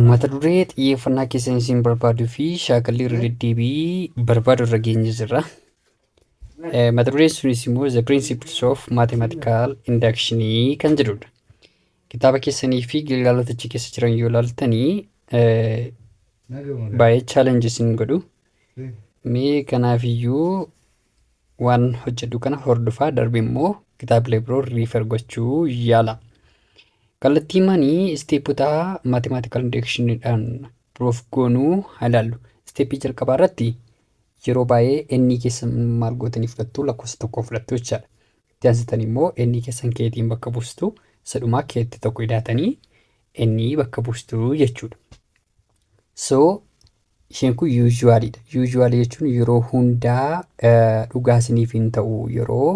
Mata duree xiyyeeffannaa keessan isin barbaaduu fi shaakallii irra deddeebi'ii barbaadu irra geenye jirra. Eh, Mata dureen sunis immoo The Principles of Mathematical Induction kan jedhudha. Kitaaba keessanii fi gilgaalota achi keessa jiran yoo ilaaltanii eh, baay'ee challenge isin godhu. Mee kanaafiyyuu waan hojjedhu kana hordofaa darbe immoo kitaabilee biroo riifer gochuu yaala. Kallattii manii isteepota mathematical inductionidhaan proof goonuu haa ilaallu. Isteeppii jalqabaa irratti yeroo baay'ee ennii keessan maal gootanii fudhattu lakkoofsa tokko fudhattu jechaadha. Itti aansitan immoo ennii keessan keetiin bakka buustu isa dhumaa keetti tokko idaatanii ennii bakka buustu jechuudha. So Isheen kun usually dha. Usually jechuun yeroo hundaa dhugaa isiniif hin ta'u yeroo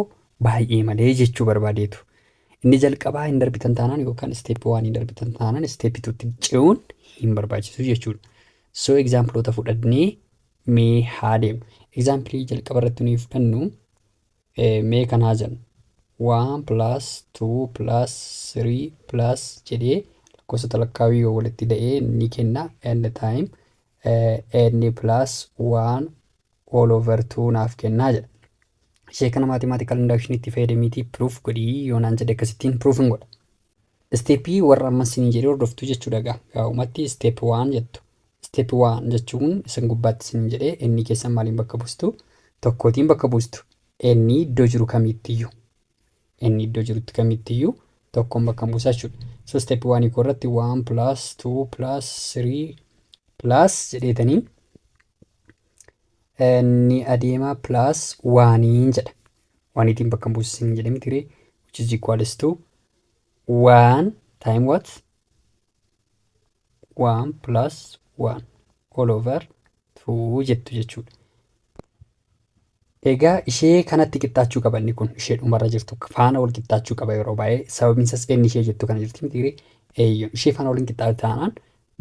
baay'ee malee jechuu barbaadeetu. Inni jalqabaa hin darbitan taanaan yookaan step 1 hin darbitan taanaan step 2 tti ce'uun hin barbaachisu jechuudha. So exampleota fudhannee mee haa deemnu. Example jalqaba irratti nuyi fudhannu Mee kan haa jennu. 1 plus 2 plus 3 plus jedhee lakkoofsota lakkaawii yoo walitti da'ee ni kenna n time n plus 1 all over 2 naaf kennaa jedha. Ishee kana mathematical induction itti fayyadamiitii proof godhii yoo naan jedhe akkasittiin proof hin godha. Step warra amma isin jedhe hordoftu jechuudha gaa gaa'umatti step waan jettu step waan jechuun isin gubbaatti isin jedhe inni keessan maaliin bakka buustu tokkootiin bakka buustu inni iddoo jiru kamiittiyyuu inni iddoo jirutti kamiittiyyuu tokkoon bakka buusa jechuudha so step waan ikoo irratti waan plus two plus three plus jedheetanii ni adeemaa plus waaniin jedha. Waaniitiin bakka hin buusisin hin jedhame tiree which is equals to one time what? one plus one all over two jettu jechuudha. Egaa ishee kanatti qixxaachuu qaba inni kun ishee dhumarra jirtu faana wal qixxaachuu qaba yeroo baay'ee sababiin isaas inni ishee jettu kana jirti miti ree eeyyoon ishee faana waliin qixxaate taanaan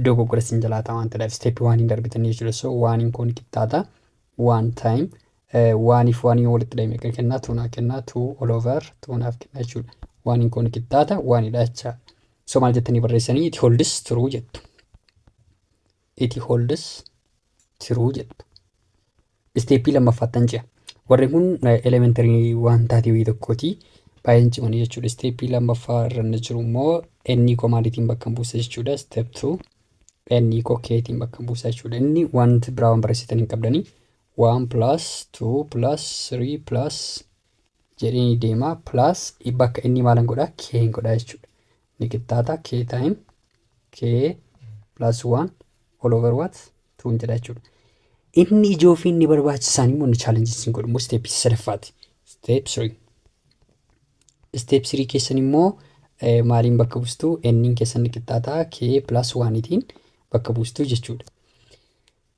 dogoggora sin jalaata waan ta'eef isteeppii waan hin darbitan jechuudha so waan hin kun qixxaata waan taayim waaniif waan hin walitti dhahime kan kennaa tuunaa kennaa tuu all over tuunaaf kennaa jechuudha waan hin kun qixxaata waan hidhaachaa so maal jettanii barreessanii it holds true jettu It holds true jedhu. Isteeppii lammaffaattan ce'a. Warri kun elementarii waan taatee wayii tokkooti. Baay'een cimanii jechuudha. Isteeppii lammaffaa irra inni jiru immoo ennii koo maaliitiin bakka buusa jechuudha. Isteep tuu ennii koo keetiin bakka buusa jechuudha. Inni wanti biraa waan barreessitan hin qabdanii. 1 plus 2 plus 3 plus jedhee ni deema. Plus bakka inni maalan godhaa keen godhaa jechuudha. ni qixxaata k time k plus 1 all over what 2 jedha jechuudha. Inni ijoo fi inni barbaachisaan immoo inni challenge isin godhu immoo step sadaffaati. Step 3. Step 3 keessan immoo maaliin bakka buustu n'n keessan ni qixxaata k plus 1 tiin bakka buustu jechuudha.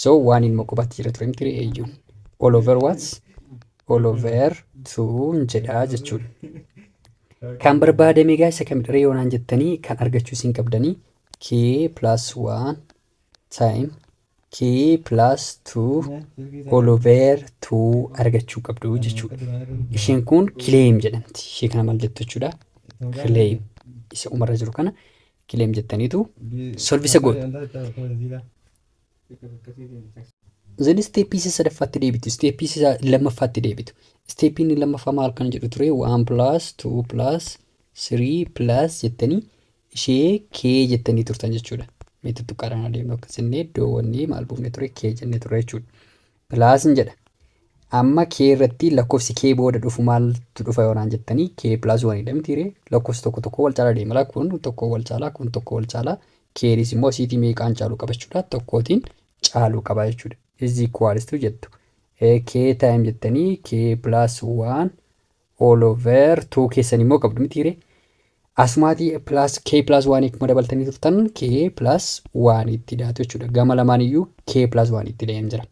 So waan ilma qubatti jira ture miti eeyyuun. All over what? All over tuun jedhaa jechuun. Kan barbaadame egaa isa kamidha yoo naan jettanii kan argachuu isin qabdanii k plus 1 time k plus 2 all over 2 argachuu qabdu jechuudha. Isheen kun claim jedhamti. Ishee kana maal jettu jechuudha? Claim isa umarra jiru kana claim jettaniitu solvisa gootu. Zan isteeppii isa sadaffaatti deebitu, isteeppii isa lammaffaatti deebitu. Isteeppiin inni lammaffaa maal kan jedhu ture? 1 plus 2 plus 3 plus jettanii ishee kee jettanii turtan jechuudha. Mee tuttuqqaadhaan adeemnu akka jennee iddoowwannee maal buufne ture? Kee jennee ture jechuudha. plus hin jedha. Amma k irratti lakkofsi k booda dhufu maaltu dhufa yoo naan jettanii k plus 1 dha miti ree lakkofsi tokko tokko wal caalaa deema laa kun tokko wal caalaa kun tokko wal caalaa keenis immoo asiitii meeqaan caaluu qaba jechuudha tokkootiin caaluu qaba jechuudha is equals to jettu k time jettanii k plus 1 all over 2 keessan immoo qabdu miti hiree asumaatii plus k plus 1 akkuma dabaltanii turtan k plus 1 itti daatu jechuudha gama lamaan iyyuu k plus 1 itti da'een jira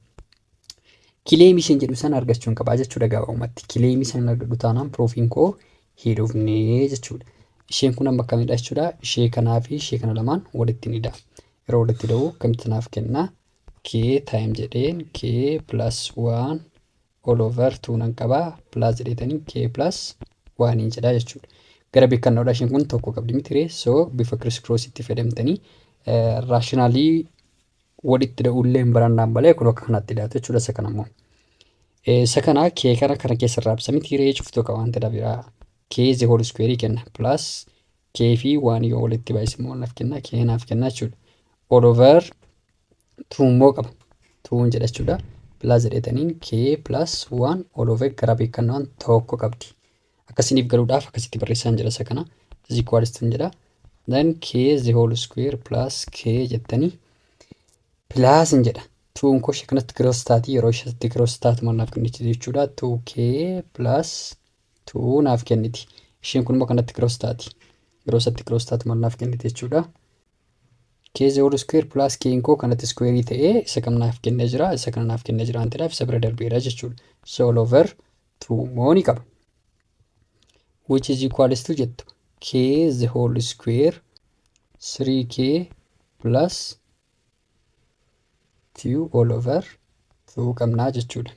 kileemii isin jedhu san argachuun qabaa jechuudha gabaabumatti kileemii san argadhu taanaan piroofiin koo hidhufnee jechuudha isheen kun amma akkamidha jechuudha ishee kanaa fi ishee kana lamaan walitti ni da'a yeroo walitti da'u akkamitti naaf kenna k time jedheen k plus 1 all over 2 nan qaba plus jedheetanii k plus 1 hin jedhaa jechuudha. Gara beekannoodha isheen kun tokko qabdi miti ree so bifa criss cross itti fayyadamtanii raashinaalii walitti da'ullee hin barannaan malee kun akka kanatti dhiyaatu jechuudha isa kana immoo. Isa kana k kana kana keessa irraa ibsa miti ree cuftuu qaba wanta dabiraa k is the whole square kenna plus k fi 1 yoo walitti baay'ise immoo naaf kenna k naaf kenna jechuudha. All over 2 immoo qaba 2 jedha jechuudha plus jedhetaniin k plus 1 all over gara beekannaan tokko qabdi akkasiniif galuudhaaf akkasitti barreessaan jedha isa kana is equals to jedha then k the whole square plus k jettanii plus hin jedha 2 koo ishee kanatti gross taati yeroo isheetti gross taatu maal naaf kenniti jechuudha 2k plus 2 naaf kenniti isheen kun immoo kanatti gross taati yeroo isatti gross taatu maal naaf kenniti jechuudha K the whole square plus K koo kanatti iskuweerii ta'ee isa kam naaf kennee jira isa kana naaf kennee jira waan ta'eef isa bira darbeera jechuudha. So all over 2 moo ni qaba. Which is equals to jettu K the whole square 3K plus 2 all over 2 qabnaa jechuudha.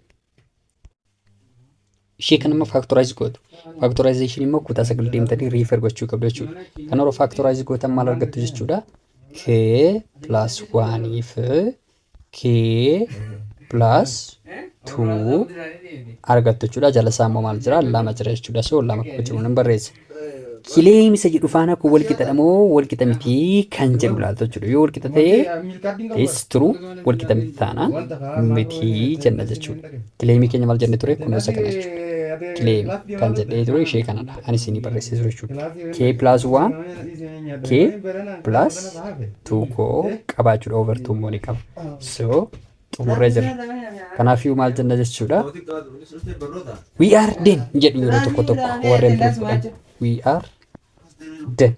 ishee kan immoo faaktoraayiz gootu. Faaktoraayizeeshin immoo kutaa sagal deemtanii riifar gochuu qabdu jechuudha. Kan yeroo faaktoraayiz gootan maal argattu jechuudha? K plus waaniif K plus tuu argattu jechuudha. Jala isaa immoo maal jira? Lama jira jechuudha. So lama kuba jiru nan barreessa. Kileem isa jedhu faana kun wal qixadha moo wal qixa miti kan jedhu ilaaltu jechuudha. Yoo wal qixa ta'e is true wal qixa miti taanaan miti jenna jechuudha. Kileemii keenya maal jenne ture kun isa kana jechuudha. Kileem kan jedhee ture ishee kanadha. Ani isinii barreessee ture jechuudha. K plus 1 K plus 2 koo qabaachuudha over 2 immoo ni qaba. So xumurree jirra. Kanaafiyyuu maal jenna jechuudha. We are den jedhu yeroo tokko tokko warreen proof godhan. We are den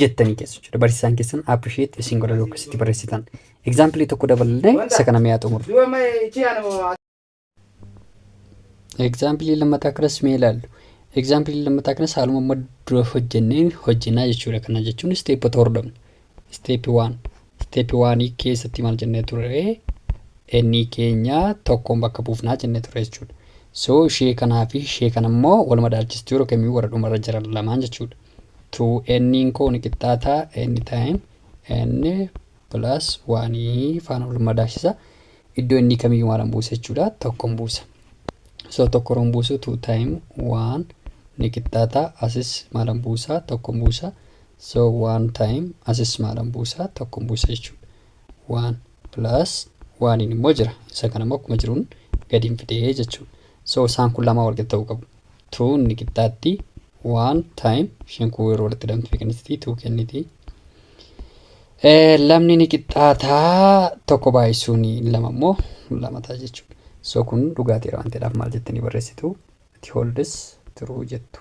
jettanii keessu jechuudha. Barsiisaan keessan appreciate isin godha yookiin itti barreessitan. Example tokko daballee isa kana mi'aa xumurra. Egzaampilii lammataa kanas mee ilaallu. Egzaampilii lammataa kanas haaluma amma dura hojjenneen hojjennaa jechuudha. Kana jechuun isteepota hordofna. Isteepi waan. Isteepi waanii keessatti maal jennee turre? Ennii keenya tokkoon bakka buufnaa jennee turre jechuudha. So ishee kanaa fi ishee kana immoo wal madaalchistuu yeroo kamiyyuu warra dhumarra jiran lamaan jechuudha. 2n koo ni qixxaataa n time n plus 1 faana wal madaasisa. Iddoo inni kamiyyuu maalan buusa jechuudha. Tokkon buusa. So tokko roon buusu 2 time 1 ni qixxaata. Asis maalan buusa tokkon buusa. So 1 time asis maalan buusa tokkon buusa jechuudha. 1 plus 1 immoo jira. Isa kana immoo akkuma jiruun gadiin fidee jechuudha. So isaan kun lamaa walqixa ta'uu qabu. tuu ni qixxaatti waan taayim isheen kun yeroo walitti hidhamtu fiiqinsitii tuu kenniti lamni ni qixxaataa tokko baay'isuun lama immoo lama ta'a jechuudha so kun dhugaatii waan ta'eedhaaf maal jettanii barreessitu ati holdis turuu jettu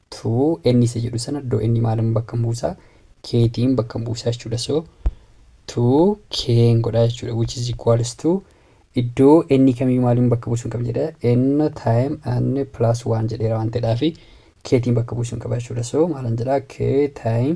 to n isa jedhu sana iddoo n maalin bakkan buusa k tiin bakkan buusa jechuudha so to k n godha jechuudha which is equals to iddoo n kamiyyuu maalin bakka buusuun qaba jedha n time n plus 1 jedheera waan ta'eedhaafi k tiin bakka buusuun qaba jechuudha so maalan jedha k time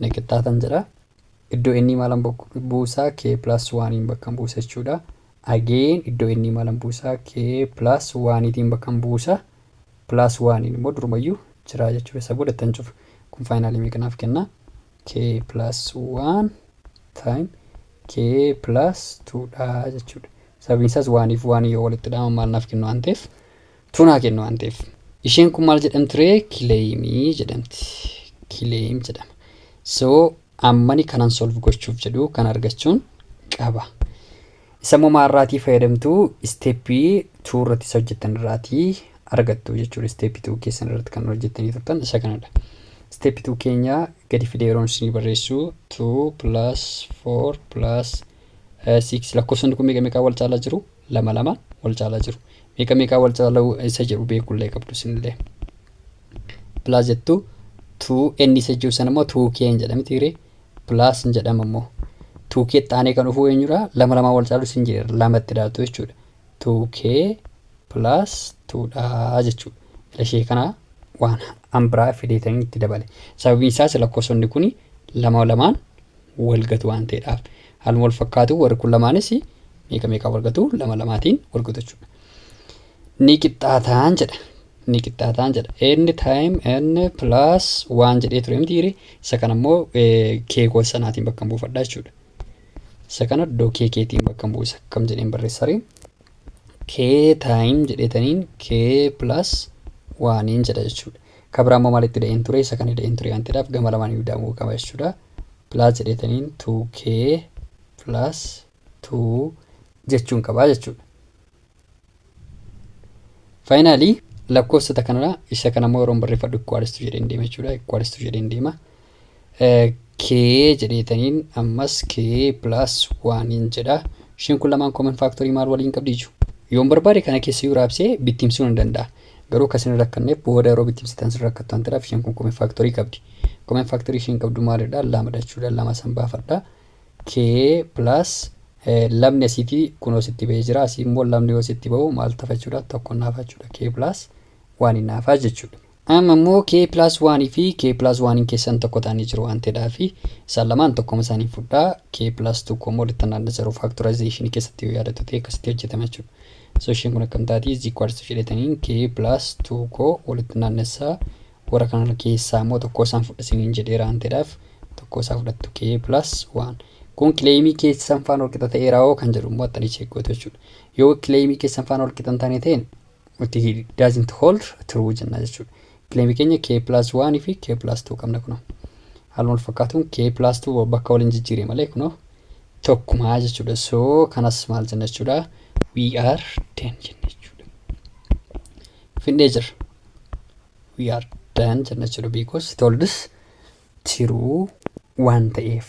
ni qixxaatan jedha. Iddoo n maalan buusa? k plus 1n bakkan buusa jechuudha. Again iddoo n maalan buusa? k plus 1tiin bakkan buusa. Plus 1n immoo durumayyuu jira jechuudha. Isa booda ittan cufa. Kun faayinaalii meeqa naaf kenna? k plus 1 time k plus 2 dha jechuudha. Sababiin isaas 1 fi 1 yoo walitti hidhaman maal naaf kennu waan ta'eef Tun haa kennu waan ta'eef. Isheen kun maal jedhamti ree? Kileeyimii jedhamti. Kileeyim jedhama. So ammani kanan solve gochuuf jedhu kan argachuun qaba. Isa immoo maarraatii fayyadamtu isteeppii 2 irratti isa hojjettan irraatii argattu jechuudha. Isteeppii 2 keessan irratti kan hojjettanii turtan isa kanadha. Isteeppii 2 keenya gadi fidee yeroon isinii barreessu 2 plus 4 plus 6 lakkoofsonni kun meeqa meeqaa wal caalaa jiru? lama lama wal caalaa jiru meeqa meeqaa wal caaluu isa jedhu beekullee qabdu isinillee pilaas jettu tuu n isa jiru sana immoo tuu kee hin jedhami tiiree pilaas hin jedhama immoo tuu kee xaanee kan dhufuu eenyudha lama lamaa wal caaluu isin jedhe lamatti dhaaltu jechuudha tuu kee pilaas tuudhaa jechuudha ila ishee kana waan an biraa fideetanii itti dabale sababiin isaas lakkoofsonni kun lama lamaan wal gatu waan ta'eedhaaf. Haaluma wal fakkaatuun warri kun lamaanis meeqa meeqaa wal gatu? Lama lamaatiin wal gatu jechuudha. Ni qixxaataan jedha. Ni qixxaataan jedha. N time N plus waan jedhee ture miti hiri. Isa kana immoo kee gosa sanaatiin bakka hin buufadha jechuudha. Isa kana iddoo kee keetiin bakka hin buusa akkam jedheen barreessari. K time jedheetaniin K plus waaniin jedha jechuudha. Ka biraa immoo maalitti ida'een ture? Isa kan ida'een ture waan ta'eedhaaf gama lamaan iyyuu ida'amuu qaba jechuudha. Plus jedheetaniin 2k plus 2 jechuun qaba jechuudha. Finally lakkoofsota kanarraa isa kana immoo yeroon barreeffadhu equals to jedheen deema jechuudha. Equals to jedheen deema. kee jedheetaniin ammas kee plus waaniin jedha isheen kun lamaan common factory maal waliin qabdi iju yoon barbaade kana keessa yoo raabsee bittimsuu nan danda'a garuu akka isin rakkanneef booda yeroo bittimsitan isin rakkattu waan ta'eef isheen kun common factory qabdi common factory isheen qabdu maalidha lamadha jechuudha lama san baafadha kee plus lamni asiiti kunoo sitti ba'ee jira asii immoo lamni yoo sitti ba'u maal tafa jechuudha tokko naafa jechuudha kee plus waaniin naafa jechuudha Amma immoo K plus 1 fi K plus 1n keessan tokko ta'anii jiru waan ta'eedhaaf isaan lamaan tokkoma isaanii fudhaa K plus 2 koo immoo littan adda zero factorization keessatti yoo yaadatu ta'e akkasitti hojjetama jechuudha. So isheen kun akkam taati is equal to jedhetaniin K plus 2 koo walitti naannessaa warra kana keessaa immoo tokko isaan fudha isiniin jedheera waan ta'eedhaaf tokko isaa fudhattu K plus 1. Kun kileemii keessan faan walqixa ta'eera hoo kan jedhu immoo attanii cheekkoota jechuudha. Yoo kileemii keessan faan walqixa hin taane ta'een nutti doesn't hold true jenna jechuudha. Claim keenya k plus 1 fi k plus 2 qabna kunoo. Haaluma wal fakkaatuun k plus 2 bakka waliin jijjiire malee kunoo tokkumaa jechuudha. So kanas maal jenna jechuudha. We are 10 jenna jechuudha. Findhee jirra. We are 10 jenna jechuudha. Because it holds true waan ta'eef.